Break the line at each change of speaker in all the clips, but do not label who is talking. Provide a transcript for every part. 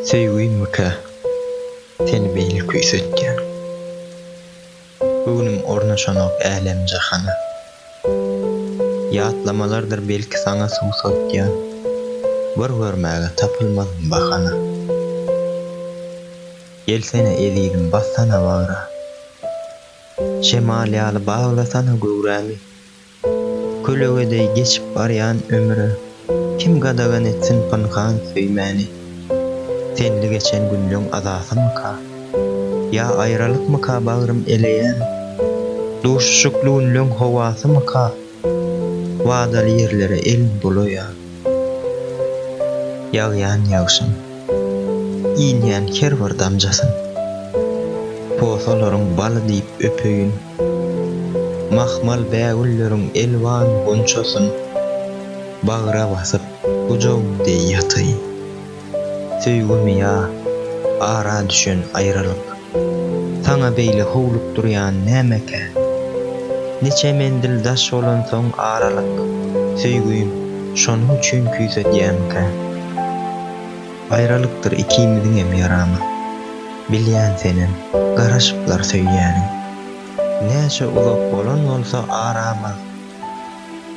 Söýgümmika seni beýle küýsetýän? Göwnüm ornaşanok älem-jahana. Ýatlamalardyr belki saňa suwsatýan, Bir görmäge tapylmazmy bahana. Gelsene ezizim bassana bagra, Şemal ýaly baglasana göwrämi. Kölege deý geçip barýan ömre Kim gadagan etsin pynhan söýmäni? Senli geçen günleň azasymyka? Ýa aýralykmyka bagrym eleýän? Duşuşykly günleň howasymyka? Wadaly ýerlere el bulaýan. Ýagýan ýagşyň, inýän her bir damjasyn Posalaryň baly diýip öpeýin. Mahmal bägülleriň elwan gunçasyn Bagra basyp gujaw deý ýataýyn. Söýgimi ýa, ara düşen aýralyk, Saňa beýle howlukdyrýan nämekä? Niçe menzil daş bolansoň aralyk, Söýgim, şonuň üçin küýsedýämkä? Aýralykdyr ikimiziňem ýaramy. Bilýän senem, garaşyplar söýýäniň. Näçe uzak bolan bolsa aramyz,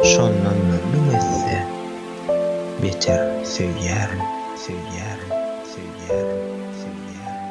Şondan-da müň esse beter söýýärin, söýýärin, söýýärin, söýýärin.